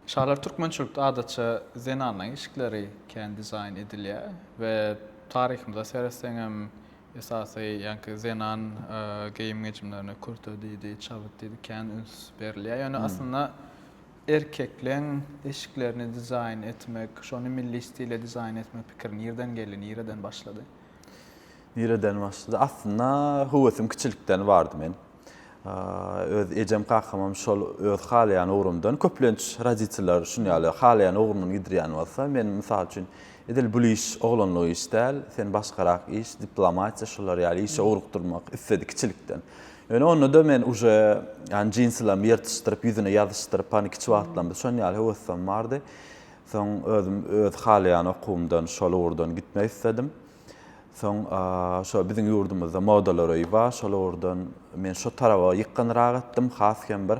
Şalar türkmençilikde adatça zenanlaryň işikleri kän dizaýn edilýär we taryhymyza seretseňem esasy ýaňky zenan geýim-gejimlerine kürte diýdi, çabyt diýdi kän üns berilýär. Ýöne aslynda erkekleň eşiklerini dizaýn etmek, şony milli stile dizaýn etmek pikiri nirden geldi, nireden başlady? Nireden başlady? Aslynda höwesim kiçilikden bardy men. Öz ejem kakamam şol öz halaýan ugrumdan, köplenç roditeller şun ýaly halaýan ugrundan gidirýän bolsa, men mysal üçin edil bul iş oglanlyk iş däl, sen başgarak iş, diplomatiýa şular ýaly işe ugrukdyrmak isledi kiçilikden. Ýöne onda-da men uje ýany jinsilerimi ýyrtyşdyryp, ýüzüne ýazyşdyryp, hany kiçi wagtlam biz şon ýaly höwesem bardy. Soň özüm öz halaýan okuwymdan şol ugurdan gitmek isledim. Soň şo biziň ýurdumyzda modalar öýi bar, şol ugurdan men şo taraba ýykgynrak etdim. Has hem bir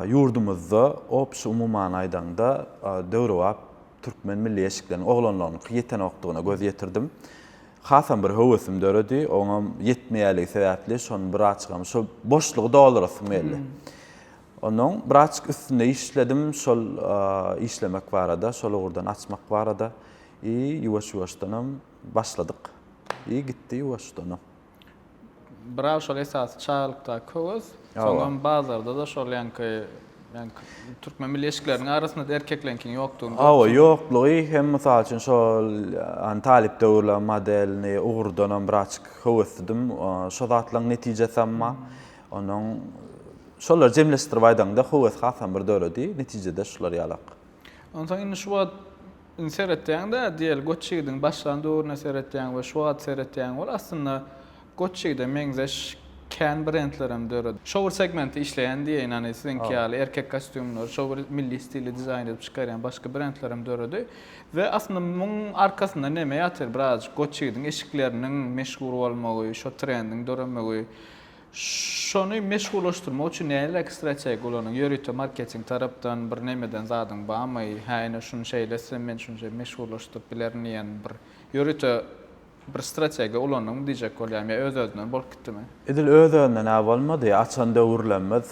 ýurdumyzda obşi umuman aýdaňda döwrebap türkmen milli eşikleriniň oglanlaryňky ýetenokdygyna göz ýetirdim. Hasam bir höwesim döredi, oňam ýetmeýänligi sebäpli şony birazçykam şo boşlugy doldurasym geldi. Onnoň braçk üstünde işledim, şol işlemek barada, şol ugurdan açmak barada i ýuwaş-ýuwaşdanam başladyk i gitdi ýuwaşdanam. Brak şol esasy çagalykdaky höwes, soňam bazarda-da şol ýaňky türkmen milli eşikleriniň arasynda-da erkekleriňkiň ýokdugyny görüp. Hawa, ýoklugy hem mysal üçin şol talyp döwürler modelini ugurdanam braçk höweslidim. Şo zatlaryň netijesem bar. Onuň şolary jemleşdirip aýdaňda höwesi hasam bir döredi. Netijede şular ýalak. Onsoň indi şu wagt indi seretýäň-de, diýeli Goç ýigidiň başlan döwrüne seretýäň we şu wagt seretýäň bol, aslynda Goç ýigide meňzeş kän brendlerem döredi. Şo bir segmentde işleýän diýeýin, hany siziňki ýaly erkek kostýumlary şo bir milli stilde dizaýn edip çykarýan başga brendlerem döredi. We aslynda muň arkasynda neme ýatyr? Birazajyk Goç ýigidiň eşikleriniň meşhur bolmagy, şo trendiň döremegi. Şony meşhurlaşdyrmak üçin näleräk strategiýa ulanyň? Ýörite marketing tarapdan bir näme eden zadyň barmy? Hä, ine şuny şeýle etsem, men şuny şeýle meşhurlaşdyryp bilerin diýen bir ýörite bir strategiýa ulanyňmy diýjek bolýaryn. Ýa öz-özünden bolup gitdimi? Edil öz-özünden-ä bolmady. Açan döwürlerimiz,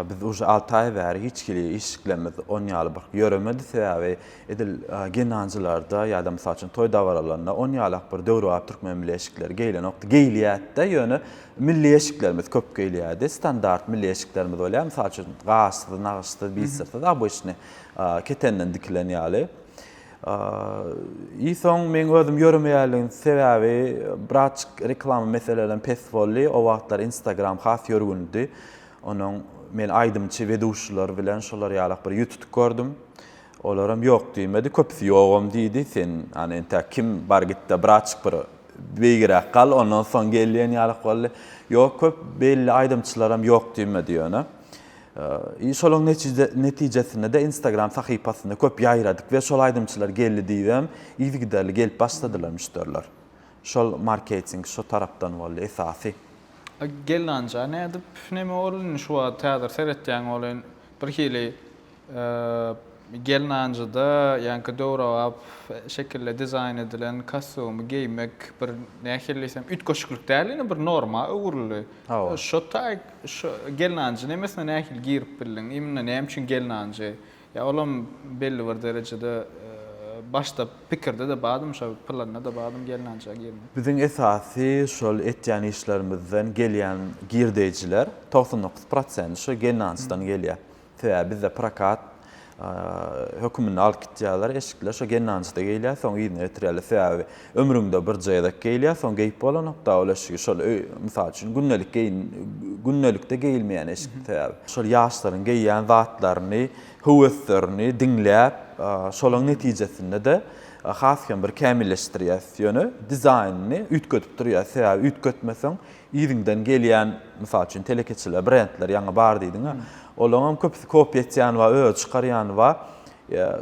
biz uje alty aý bäri hiç hili işiklerimiz on ýaly bir ýöremedi. Sebäbi, Edil genancılarda ýa-da mysal üçin toý dabaralarynda on ýalak bir döwrebap türkmen milli eşikleri geýilenokdy. Geýilýärdi-de, ýöne milli eşiklerimiz köp geýilýärdi. Standart milli eşiklerimiz bolýar. Mysal üçin gaşsyz, nagyşsyz, bitsirsiz, obyçny ketenden dikilen ýaly. I soň meň özüm ýöremeýänligiň sebäbi birazjyk reklama meselelerem pes boldy. O wagtlar Instagram has ýörgünidi. Onuň men aýdymçy, weduşiler bilen şolar ýalak bir ýütutuk gördüm. Olaram ýok diýmedi, köpüsi ýogam diýdi. Sen, ana, entäk kim, bar git-de, biraçyk bir beýigräk gal, ondan soň gel diýen ýalyk boldy. Ýok, köp belli aýdymçylaram ýok diýmedi ýöne. I şolaň netijesinde-de Instagram sahypasynda köp ýaýradyk we şol aýdymçylar geldi diýibem yzygiderli gelip başladylar müşderiler. Şol marketing şo tarapdan boldy esasy. Gelnanja nädip, neme bol indi şu wagt häzir seretýäň bolýan Bir hili gelnanjyda ýaňky döwrebap şekilde dizaýn edilen kostyumy geýmek bir nähili diýsem üýtgeşiklik däl indi bir norma öwrüldi. Şo taýy şo gelnanjy nemesine nähili girip bildiň? Imенно näme üçin gelnanjy? Ýa olam belli bir derejede başda Pikirde-de badym şo, planda-da badym gelnançaga girmek. Biziň esasy şol etýän işlerimizden gelýän girdeýjiler togsan dokuz prosenti şo gelnançdan gelýär. Sebäbi bizde prokat höküminde alyp gitýärler, eşikler şo gelnançda geýilýär, soň yzyna getirýärler. Sebäbi ömrüňde birje gezek geýilýär, soň geýip bolanokda ol eşigi şol öý, mysal üçin, gündelik geýin, gündelikde geýilmeýän eşik sebäbi. Şol ýaşlaryň geýýän zatlaryny höweslerini diňläp, şolaň netijesinde-de has hem bir kämilleşdirýäs. Ýöne dizaýnyny üýtgedip durýas. Sebäbi üýtgetmeseň, yzyňdan gelýän, mysal üçin, telekeçiler, brendler ýaňy bar diýdiň-ä, olaňam köpüsi kopýa etýän bar, özi çykarýany bar.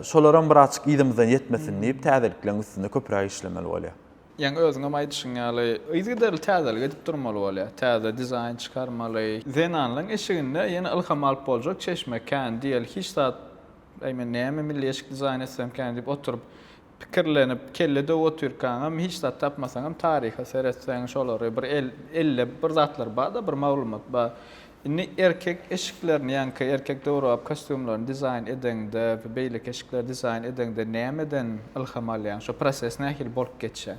Şolaram bir azajyk yzymyzdan ýetmesin diýip, täzelikleň üstünde köpräk işlemeli bolýar. Ýaňy özüňem aýdyşyň ýaly, yzygiderli täzelik edip durmaly bolýar. Täze dizaýn çykarmaly. Zenanlaryň eşiginde ýene ylham alyp boljak çeşme kän. Diýeli hiç zat, Äý, men näme milli eşik dizaýn etsemkäm diýip oturyp, pikirlenip, kelle döwüp otyrkaňam, hiç zat tapmasaňam, taryha seretseň, şolary bir el, ellep bir zatlar bar-da, bir maglumat bar. Indi erkek eşiklerini, ýaňky erkek döwrebap kostýumlaryny dizaýn edeňde we beýleki eşikleri dizaýn edeňde nämeden ylham alýaň? Şo proses nähili bolup geçýär?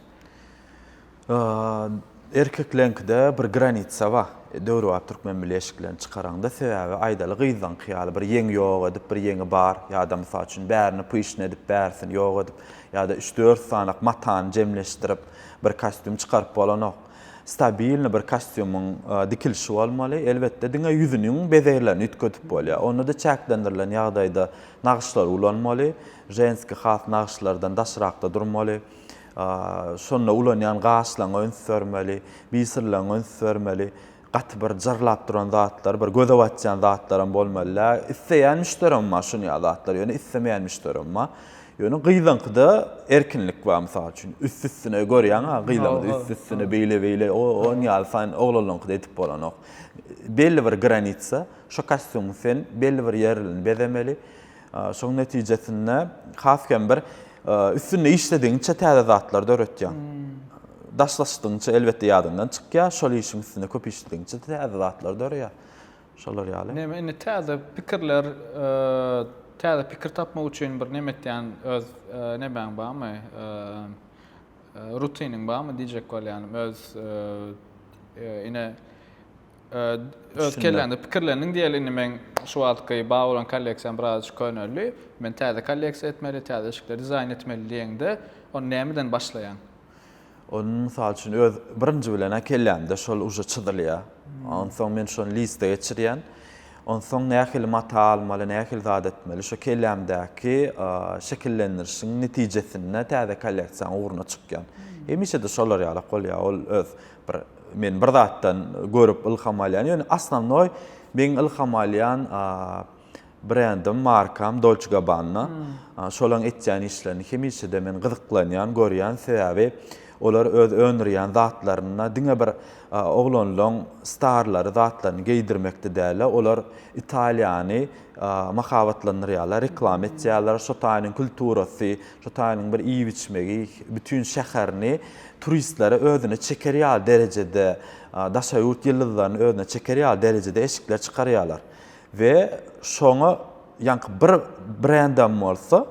Erkekleriňkide bir granitsa bar. Döwrebap türkmen milli eşiklerini çykaraňda, sebäbi aýdaly gyzlaryňky ýaly bir ýeňi ýok edip, bir ýeňi bar ýa-da mysal üçin bärini pyşn edip, bärisini ýok edip ýa-da üç-dört sanak matany jemleşdirip bir kostýum çykaryp bolanok. Stabilny bir kostýumyň dikilişi bolmaly. Elbetde, diňe ýüzüniň bezeglerini üýtgedip bolýar. Onda-da çäklendirilen ýagdaýda nagyşlar ulanmaly. Ženski has nagyşlardan daşrakda durmaly. Şonda ulanýan gaşlaňa üns bermeli, biysyrlaňa üns bermeli. Gaty bir jyrlap duran zatlar, bir göze batýan zatlaram bolmaly däl. Isleýän müşderim bar şuny ýaly zatlar, ýöne islemeýän müşderim bar. Ýöne gyzyňkyda erkinlik bar, mysal üçin, üst-üstüne görýäň-ä, gyzyňky üst-üstüne beýle-beýle, o onuň ýaly saýyn oglanlaňkyda edip bolanok. Belli bir granitsa, şo kostýumyň sen belli bir ýerini bezemeli. Şoň netijesinde has hem bir üstünde işledigiňçe täze zatlar döretýäň. Daşlaşdygyňça elbetde ýadyňdan çykýar, şol işiň üstünde köp işledigiňçe täze zatlar döreýär. Şolar ýaly. Näme indi täze pikirler, täze pikir tapmak üçin bir näme etýän öz nämäň barmy? Rutiniň barmy diýjek bolýanym. Öz ine Öz kelläňde pikirlendiň diýeli, indi meň şu wagtky bar bolan kolleksiýam birazajyk köneldi. Men täze kolleksiýa etmeli, täze eşikleri dizaýn etmeli diýeňde, ony nämeden başlaýaň? Ony, mysal üçin, öz birinji bilen-ä kellämde şol uje çyzylýar. Onsoň men şony liste geçirýän. Onsoň nähili mata almaly, nähili zat etmeli, şo kellämdäki şekillendirişiň netijesinde täze kolleksiýanyň ugruna çykýan. Hemişe-de şolar ýalak bolýar, ol öz Bir men bir zatdan görüp ylham alýan, ýöne osnownoý meň ylham alýan brendim, markam Dolce Gabbana. Şolaň etýän işlerini hemişe-de men gyzyklanýan, görýän, sebäbi olar öz öndürýän zatlarynda diňe bir oglanlaň starlary zatlaryny geýdirmekde däl-de, olar Italiýany mahabatlandyrýarlar, reklama etýärler, şo taýynyň kulturasy, Şu taýynyň bir iýip-içmegi bütin şäherini turistlere özüne çeker ýaly derejede, daşary ýurt ýyldyzlaryny özüne çeker ýaly derejede eşikler çykarýarlar we şoňa ýaňky bir brendem bolsa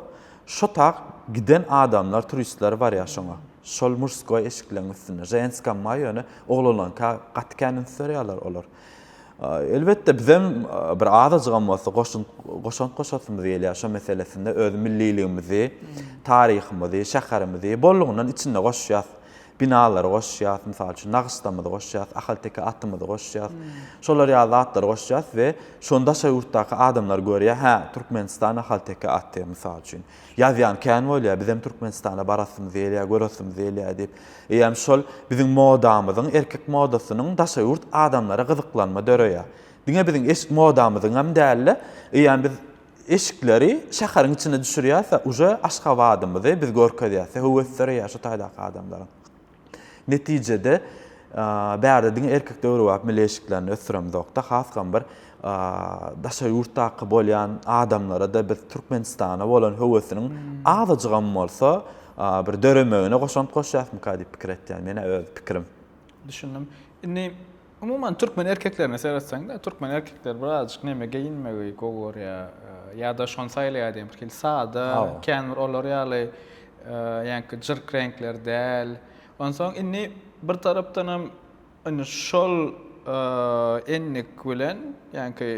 şo tak giden adamlar, turistler barýar şoňa. Şol muşskoý eşikleň üstünde ženskam bar ýöne oglanlaňka gaty kän üns berýärler olar. Elbetde bizem bir azajygam bolsa goşunt goşant goşasymyz gelýär şo meselesinde öz milliligimizi, taryhymyzy, şäherimizi bollugyndan içinde goşýas. Binalary goşýas, mysal üçin nagyşlamyzy goşýas, ahalteke atymyzy goşýas. Şolar ýaly zatlary goşýas we şony daşary ýurtdaky adamlar görýär, hä, Türkmenistan ahalteke aty, mysal üçin. Ýazýan kän bolýar, bizem Türkmenistana barasymyz gelýär, göresimiz gelýär diýip. Eýýäm şol biziň modamyzyň, erkek modasynyň daşa ýurt adamlara gyzyklanma döreýär. Diňe biziň eşik modamyzyňam däl-de, eýýäm biz eşikleri şäheriň içine düşürýäs-de, uje Aşgabadymyzy biz görkezýäs-de, höwes döreýär şu taýdaky adamlaryň. Netijede, bärde diňe erkek döwrebap milli eşiklerini ösdüremizok-da, hasam bir daşary ýurtdaky bolýan adamlara-da biz Türkmenistana bolan höwesiniň azajygam bolsa bir döremegine goşant goşýarysmyka diýip pikir etýän, men-ä öz pikirim. Düşündim. Indi Umuman türkmen erkeklerine seretseňde, türkmen erkekleri birazjyk neme geýinmegi gowy görýär, ýa-da şony saýlaýar diýen bir hili sada, kän bir olar ýaly ýaňky jyrk reňkler däl. Onsoň indi bir tarapdan hem indi şol endik bilen ýaňky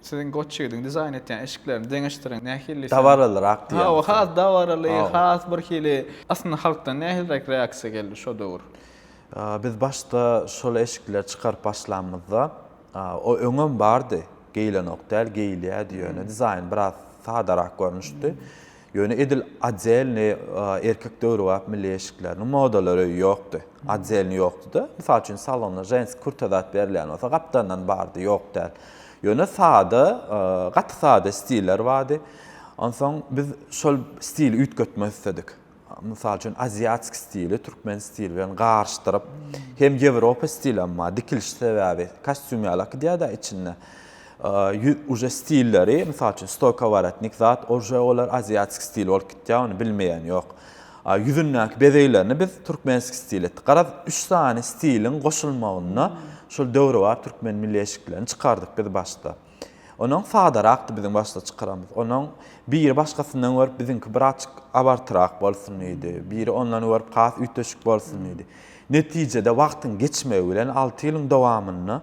siziň goç ýigidiň dizaýn etýän eşiklerini deňeşdiriň nähili. Dabaralyrak diýýär. Hawa, has dabaraly, has bir hili. Aslynda halkdan nähiliräk reaksiýa geldi şo döwür? Biz başda şol eşikleri çykaryp başlamyzda, o öňem bardy, geýilenok däl, geýilýärdi ýöne dizaýny biraz sadarak görnüşdi. Ýöne edil otdelni erkek döwrebap milli eşikleriniň modalary ýokdy. Otdelni ýokdy-da. Mysal üçin salonda ženski kurta zat berilýän bolsa gapdandan bardy, ýok däl. Ýöne sada, gaty sada stiller bardy. Onsoň biz şol stili üýtgetmek isledik. Mysal üçin, aziatsk stili türkmen stili bilen garyşdyryp, hem ýewropa stilem bar, dikiliş sebäbi kostýum ýaly akdýada içinde. Ýüz uje stilleri, mysal üçin, stoýkowaratnik zat, uje olar aziatsk stil bolup gitýär, ony bilmeýän ýok. Ýüzündäki bezeglerini biz türkmensk stil etdik. Garaz, üç sany stiliň goşulmagynda şol döwrebap türkmen milli eşiklerini çykardyk biz başda. Ondan sadarakdy biziň başda çykaramyz. Ondan biri başgasyndan görüp biziňki birazjyk abartyrak bolsun diýdi. Biri ondan görüp has üýtgeşik bolsun diýdi. Netijede wagtyň geçmegi bilen alty ýylyň dowamynda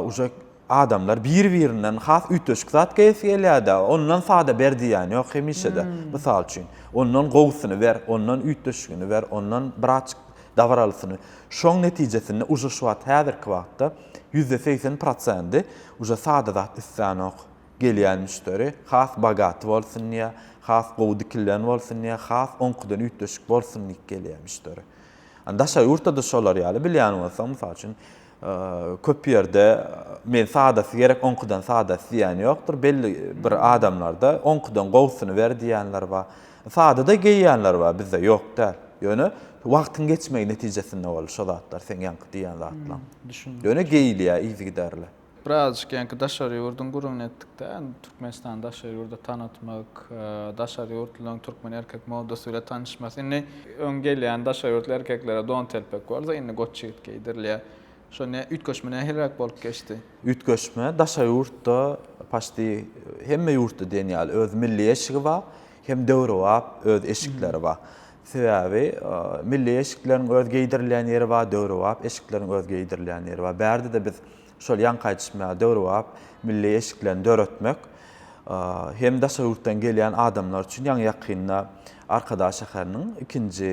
uje adamlar bir-birinden has üýtgeşik zat geýesi gelýär-de. Ondan sada ber diýýän ýok hemişe-de. Mysal üçin, ondan gowusyny ber, ondan üýtgeşigini ber, ondan birazjyk dabaralysyny. Şoň netijesinde uje şu wagt häzirki wagtda Ýüzde segsen prosendi uje sada zat islanok. Gelýän müşderi has bogaty bolsun diýä, has gowy dikilen bolsun diýä, has oňkudan üýtgeşik bolsun diýip gelýä müşderi. An daşary ýurtda-da şolar ýaly bilýän bolsaň mysal üçin köp ýerde men sadasy gerek oňkudan sadasy diýen ýokdur. Belli bir adamlarda oňkudan gowusyny ber diýenler bar. Sada-da geýýänler bar, bizde ýok däl. Ýöne wagtyň geçmegi netijesinde boldy şo zatlar, seň ýaňky diýýän zatlaň. Düşündim. Ýöne geýilýär yzygiderli. Birazajyk ýaňky daşary ýurduň gürrüňini etdik-de, Türkmenistany daşary ýurda tanatmak, daşary ýurtlylaryň türkmen erkek modasy bile tanyşmasy. Indi öň gelýän daşary ýurtly erkeklere don telpek bolsa, indi goç ýigit geýdirilýär. Şo ne üýtgeşme nähiliräk bolup geçdi? Üýtgeşme daşary ýurtda paçti hemme ýurtda diýen ýaly öz milli eşigi bar, hem döwrebap öz eşikleri bar. Sebäbi milli eşikleriň öz geýdirilýän ýeri bar, döwrebap eşikleriň öz geýdirilýän ýeri bar. Bärde-de biz şol ýaňky aýdyşym ýaly döwrebap milli eşiklerini döretmek hem daşary ýurtdan gelýän adamlar üçin ýaňy ýakynda Arkadag şäheriniň ikinji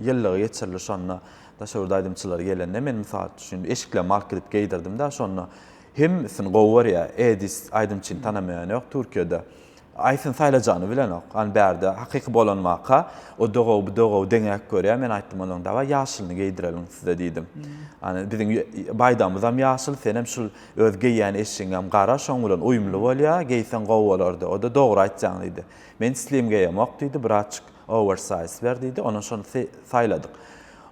ýyllygy geçirilir. Şonda Daşoguzda aýdymçylar gelende men mysal üçin eşiklerimi alyp gidip geýdirdimdä şonda hemmesini gowy görýä Edis aýdymçyny tanamaýan ýok Türkiýede Aýsyn saýlajany bilenok an bärde hakyky bolan waka o dogaw bu dogaw deňäk görýä men aýtdym onuň dawaý ýaşylyny geýdireliň size diýdim an biziň baýdagymyzam ýaşyl senem şul öz geýýän eşigiňem gara şoň bilen uýumly bolýa geýseň gowy bolardy oda dogry aýtjaň diýdi men islim geýemok diýdi bratçyk Owersaýz ber diýdi. Ondan şony saýladyk.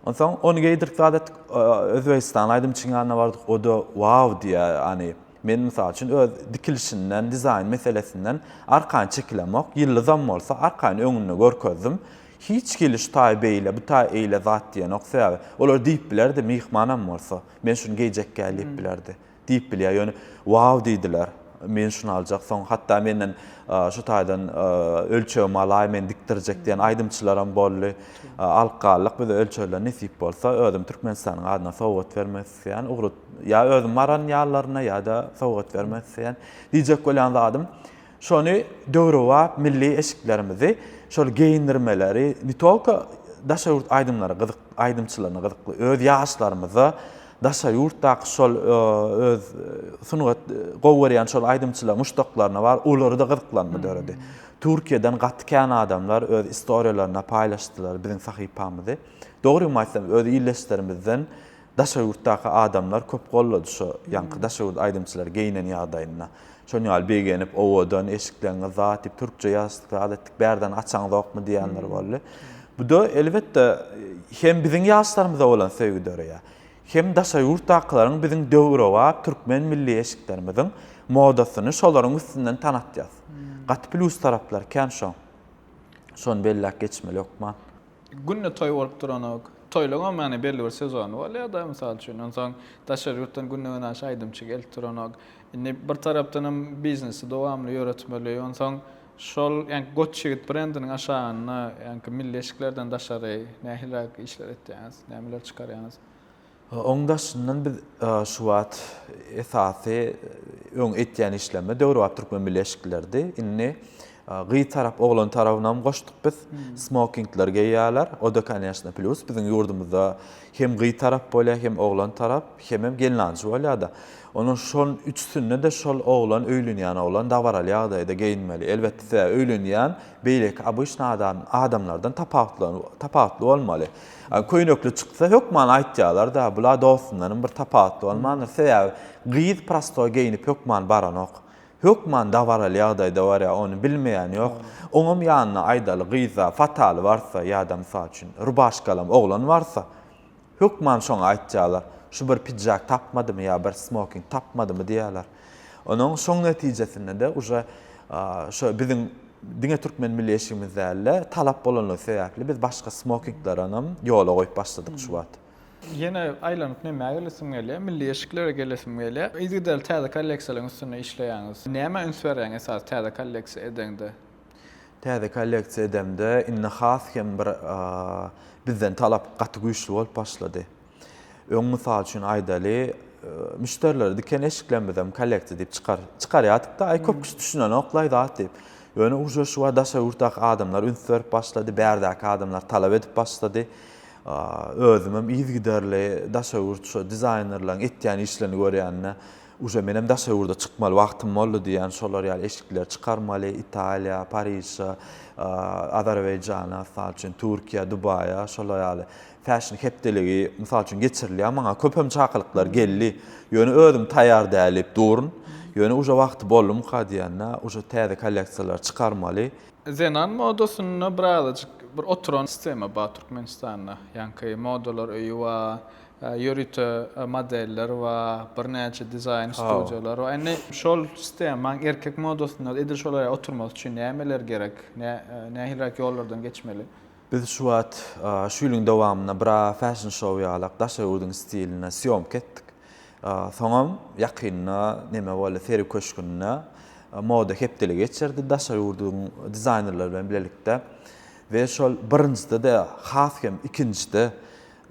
Onsoň ony geýdirip zat etdik. Özbegistanly aýdymçyň ýanyna bardyk. O-da wau diýýär. Ýany men mysal üçin öz dikilişinden, dizaýn meselesinden arkaýyn çekilemok. Ýyldyzam bolsa arkaýyn öňünde görkezdim. Hiç hili şu taýy beýle, bu taýy eýle zat diýenok. Sebäbi olar diýip bilerdi, myhmanam bolsa, men şuny geýjekkä diýip bilerdi. Diýip bilýär. Ýöne Wow diýdiler. Men şuny aljak. Soň hatda menden şu taýdan ölçegimi alaý, men dikdirjek diýen aýdymçylaram boldy. Alyp galdyk biz ölçegleri nesip bolsa özüm Türkmenistanyň adyna sowgat bermek isleýän. Ugry ýa özüm baran ýallaryna ýa-da sowgat bermek isleýän. Diýjek bolýan zadym, Şony döwrebap milli eşiklerimizi, şol geýindirmeleri ne tolko daşary ýurt aýdymlary gyzyk aýdymçylaryna gyzykly, öz ýaşlarymyza daşary ýurtdaky şol öz sungat gowy görýän şol aýdymçylaryň muşdaklaryna bar, olarda gyzyklanma döredi. Türkiýeden gaty kän adamlar öz istoriýalaryny paýlaşdylar biziň sahypamyzy. Dogrymy aýtsam öz ildeşlerimizden Daşary ýurtdaky adamlar köp gollady şo ýaňky daşary ýurt aýdymçylary geýnen ýagdaýynda. Şon ýaly begenip owadan eşikleňiz zat diýip türkçe ýazyşdyk zat etdik bärden açaňzokmy diýenler boldy. Buda elbetde hem biziň ýaşlarymyza bolan söýgi döreýär. Hem daşary ýurtdakylaryň biziň döwrebap türkmen milli eşiklerimiziň modasyny şolaryň üstünden tanatýas. Gaty plýus taraplary kän şoň. Şony belläp geçmeli hökman. Günde toý bolup duranok. Toýlaryňam ýagny belli bir sezony bolýar-da, mysal üçin. Onsoň daşary ýurtdan günde-günaşa aýdymçy gelip duranok. Indi bir tarapdan hem biznesi dowamly ýöretmeli. Onsoň şol ýa Goç ýigit brendiniň aşagynda ýa-ki milli eşiklerden daşary nähiliräk işler etýäňiz, nämeler çykarýaňyz? Onuň daşyndan biz şu wagt esasy öň etýän işlerimiz döwrebap türkmen bileşikleridi. Indi gyz tarap, oglan tarabyny hem goşduk biz. Smokingler geýýärler. O da koneşno plýus. Biziň ýurdumyzda hem gyz tarap bolýar, hem oglan tarap, hemem gelnanjy bolýar-da. Onuň şol üçüsinde-de şol oglan, öýlenýän oglan dabaraly ýagdaýda geýinmeli. Elbetde, öýlenýän beýleki obyçny adam, adamlardan tapawutly, tapawutly bolmaly. Köýnekli çyksa hökman aýtýarlar-da, bula dostundanam bir tapawutly bolmandyr. Sebäbi gyz prosto geýnip hökman baranok. Hökman dabaraly ýagdaýda barýar, ony bilmeýän ýok. Oňam ýanyna aýdaly gyzda fataly barsa ýa-da mysal üçin rubaşkalam oglan barsa, hökman şoňa aýtýarlar, şu bir pidžak tapmadymy ýa bir smoking tapmadymy diýýärler. Onuň şoň netijesinde-de uje şo biziň diňe türkmen milli eşigimiz däl-de, talap bolanlygy sebäpli biz başga smokinglerenam ýola goýup başladyk şu wagt. Ýene aýlanyp nämä gelesim gelýär, milli eşiklere gelesim gelýär. Yzygiderli täze kolleksiýalaryň üstünde işleýäňiz. Nämä üns berýäň esasy täze kolleksiýa edeňde? Täze kolleksiýa edemde indi has hem bir bizden talap gaty güýçli bolup başlady. Öň mysal üçin aýdaly, müşderilere diken eşiklerimizem kollektor diýip çykar. Çykarýardyk-da, aý köp kişi düşünenok-laý zat diýip. Ýöne uje şu wagt daşary ýurtdaky adamlar üns berip başlady, bärdäki adamlar talap edip başlady. Özümem yzygiderli daşary ýurt şu dizaýnerleriň etýän işlerini görýände, uje menem daşary ýurda çykmaly wagtym boldy diýýän, şolar ýaly eşikleri çykarmaly, Italiýa, Pariža, Azerbaýjana, mysal üçin, Türkiýä, Dubaýa, şolar ýaly. Fäşin hepdeligi, mysal üçin, geçirilýär. Maňa köpem çakylyklar geldi. Ýöne özüm taýýar däl diýip durun. Ýöne uje wagty boldumyka diýende, uje täze kolleksiýalary çykarmaly. Zenan modasynda birazajyk bir oturan sistema bar Türkmenistanda. Ýaňky modalar öýi bar, ýörite modeller bar, birnäçe dizaýn studiýalar bar. Indi şol sistemaň erkek modasynda edil şol ýere oturmasy üçin nämeler gerek? Nähiliräk ýollardan geçmeli? Biz şu wagt, şu ýylyň dowamynda bir ara fashion show ýalak Daşoguzyn stilinde sýomka etdik. Soňam ýakynda neme boldy, Sergi köşgünde moda hepdeligi geçirdi Daşoguzyn dizaýnerleri bilen bilelikde we şol birinjide-de, has hem ikinjide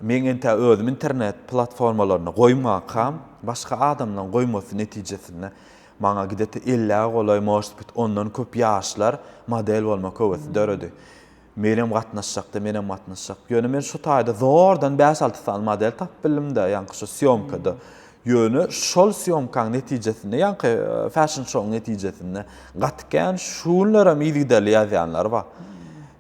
meň entä özüm internet platformalarynda goýmakam, başga adamlaryň goýmasy netijesinde maňa gde-te ellä golaý, может bit ondan köp ýaşlar model bolmak höwesi döredi. Menem gatnaşjakda, menem gatnaşjak. Ýöne men şu taýda zordan bäş-alty sany model tapyp bildim-de, ýaňky şu sýomkada. Ýöne şol sýomkaň netijesinde, ýaňky fäşn-şouň netijesinde gaty kän, şu günlerem yzygiderli ýazýanlar bar.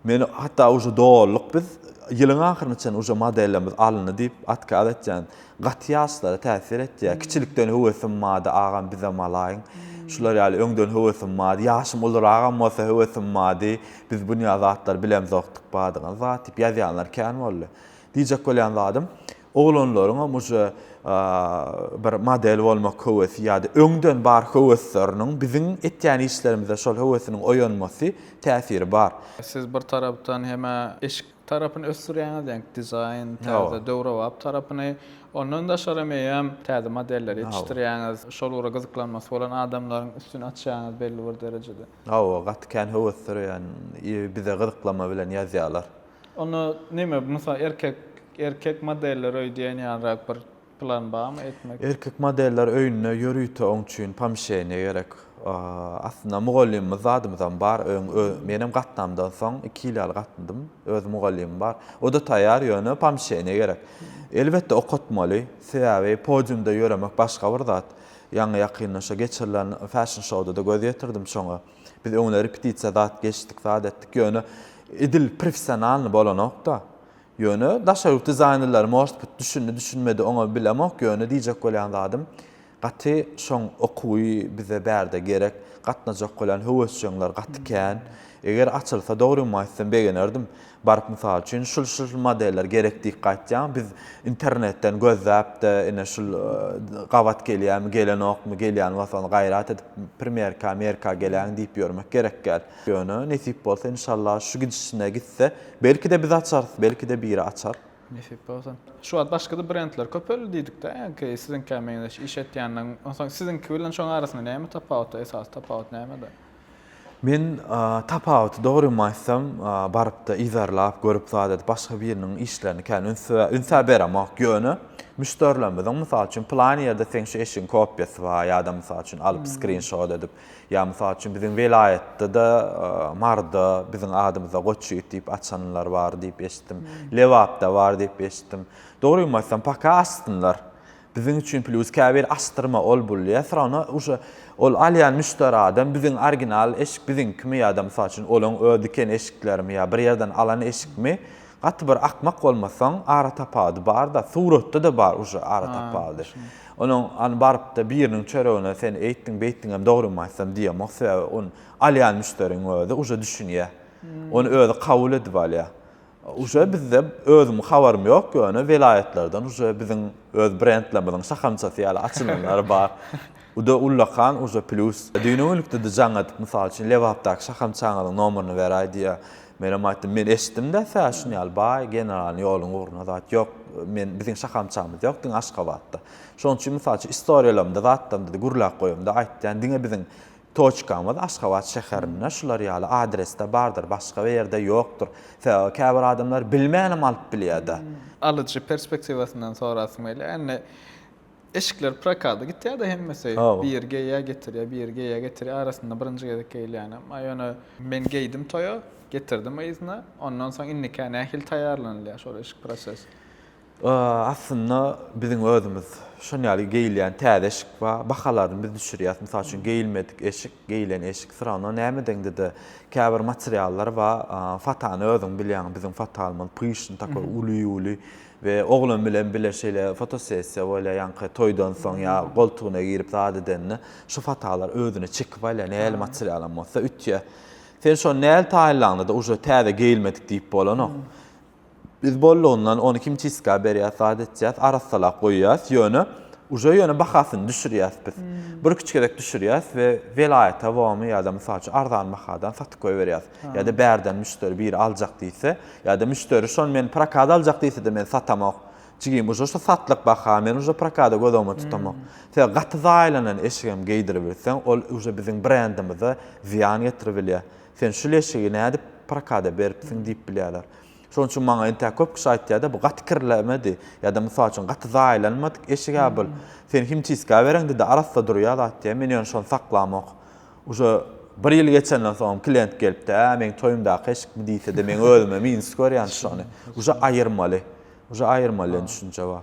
Men hatda uje doluk biz, ýylyň ahyryna çenli uje modelimiz alyndy diýip atkaz etýän. Gaty ýaşlara täsir etýär. Kiçilikden höwesim bardy, agam bizem alaýyň. Şular ýaly öňden höwesim bardy. Ýaşym uluragam bolsa höwesim bardy. Biz dünýä zatlary bilemzokdyk, badyňyz bar, diýip ýazýanlar kän boldy. Diýjek bolýan zadym, oglanlaryňam uje bir model bolmak höwesi ýa-da öňden bar höwesleriniň biziň etýän işlerimizde şol höwesiniň oýanmasy, täsiri bar. Siz bir tarapdan hem eşik tarapyny ösdürýäňiz, ýaňky dizaýn, täze, döwrebap tarapyny. Ondan daşaram eýýäm täze modelleri ýetişdirýäňiz. Şol ugra gyzyklanmasy bolan adamlaryň üstüni açýaňyz belli bir derejede. Hawa, gaty kän höwesdüreýän i bize gyzyklama bilen ýazýalar. Onda neme mysal erkek erkek modeller öýdýän ýalyrak bir plan barmy etmek? Erkek modeller öýünde ýörite oň üçin pomşeniýa gerek. Aslynda mugallymymyz zadymyzam bar öň menem gatnamdan soň iki ýyl ýaly gatndym. Öz mugallymym bar. Oda taýýar ýöne pomşeniýa gerek. Elbetde okatmaly. Sebäbi podiumda ýöremek başga bir zat. Ýaňy ýakynda şo geçirilen Fashion Show-da-da göz ýetirdim şoňa. Biz öňler repetisiýa zat geçdik, zat etdik, ýöne edil professionalnyý bolanok-da. Ýöne daşary ýurt dizaýnerleri, может bit, düşündi, düşünmedi, oňa bilemok, ýöne diýjek bolýan zadym, gaty şoň okuwy bize bärde gerek, gatnajak bolýan höwesjeňler gaty kän. Eger açylsa, dogrymy aýtsam, begenerdim. Baryp mysal üçin şul şul modeller gerek diýip gaýtýaň biz internetden gözläpde ine şul gabat gelýämi gelenokmy gelýän bolsa ony gaýrat edip primýerka merka geläň diýip ýörmek gerekgäl ýöne nesip bolsa inşalla şu gidişine gitse belkide biz açarys belkide biri açar. Nesip bolsa. Şu wagt başgada brendler köpeldi diýdikdä ýaňky siziňkä meňzeş iş etýänleriň onsoň siziňki bilen şoň arasynda näme tapawut esasy tapawut nämede? Men tapawuty dogramaýsam, baryp-da yzarlap, görüp zat edip, başga biriniň işlerini kän üns-ä beremok. Ýöne, müşderilerimiziň, mysal üçin, pylan ýerde seň şu eşigiň kopiýasy bar, ýa-da, mysal üçin, alyp, skrinşot edip, ýa, mysal üçin, biziň welaýatda-da Maryda biziň adymyza Goçy it diýip açanlar bar diýip eşitdim. Lebapda bar diýip eşitdim. Dogramaýsam, paka açsynlar. Biziň üçin plus käbir açdyrma ol bul ýa syrana uje ol alýan müşderi adam biziň original eşik biziňkimi ýada mysal üçin olaň öz diken eşiklerimi ýa bir ýerden alan eşikmi gaty bir akmak bolmasaň ara tapawdy barda suratda da bar uje ara tapawdy onuň an barypda biriniň çöregine sen eýtdiň beýtdiňem dogrymy aýtsam diýemok sebäbi on alýan müşderiň özi uje düşünýä ony özi kabul edip alýa Uje bizde özüm habarym ýok ýöne welaýatlardan uje biziň öz brendlerimiziň şahamçasy ýaly açylanlar bar. Uda ullakan uje plýus. Düýn öňlükdede jaň edip mysal üçin Lebapdaky şahamçaňyzyň nomerini beräý diýýär. Menem aýtdym men eşitdimdä tä şun ýaly baý generalnyý ýoluň ugruna zat ýok men biziň şahamçamyz ýok diňe Aşgabatda. Şonuň üçin mysal üçin istoriýalarymda zatlarymda gürläp goýamda aýtýan diňe biziň Toçkamyz Aşgabat şäherinde şular ýaly adresde bardyr, başga bir ýerde ýokdur. Sebäbi käbir adamlar bilmänem alyp bilýärde. Alyjy perspektiwasyndan sorasym gelýär. Indi eşikler prokada gitýärde hemmesi. Biri geýýär, getirýär, biri geýýär, getirýär. Arasynda birinji gezek geýilýänem. A ýöne men geýdim toýa, getirdim yzyna. Ondan soň indikä nähili taýýarlanylýar şol eşik prosesi? Aslynda biziň özümiz şon ýaly geýilýän täze eşik bar. Bahalaryny biz düşürýäs. Mysal üçin geýilmedik eşik, geýilen eşik syragna näme deňdede käbir materiallar bar. Fatany özüň bilýäň, biziň fatalymyz pyşny takoý uly-uly we oglan bilen bile şeýle fotosessiýa bolýar ýaňky toýdan soň ýa goltugyna girip zat edende şu fatalar özüne çekip alýar nähili materialam bolsa ütýär. Sen şony nähili taýynlaňda-da uje täze geýilmedik diýip bolanok. Biz bollugyndan ony himçistka berýäs, zat etýäs, arassalap goýýas, ýöne uje ýöne bahasyny düşürýäs biz. Bir iki gezek düşürýäs we welaýata bomy ýa-da mysal üçin arzan bahadan satyp goýberýäs. Ýa-da bärden müşderi biri aljak diýse, ýa-da müşderi şony men prokada aljak diýse-de men satamok. Jigim uje şu satlyk baha, men uje prokada göz öňüme tutamok. Sebäbi gaty zaýalanan eşigem geýdiribilseň, ol uje biziň brendimize zyýan getiribilýär. Sen şu leşigi nädip prokada beripsiň diýip bilýärler. Şonuň üçin maňa entäk köp kişi aýtýar-da, bu gaty kirlemedi ýa-da mysal üçin gaty zaýalanmadyk eşik-ä bul. Sen himçistka bereňde-de arassa durýar zat diýýär. Men ýöne şony saklamok. Uje bir ýyl geçenden soňam klient gelip-de, Ä, meň toýumdaky eşikmi diýse-de, meň özüme minus görýän şony. Uje aýyrmaly. Uje aýyrmaly diýen düşünje bar.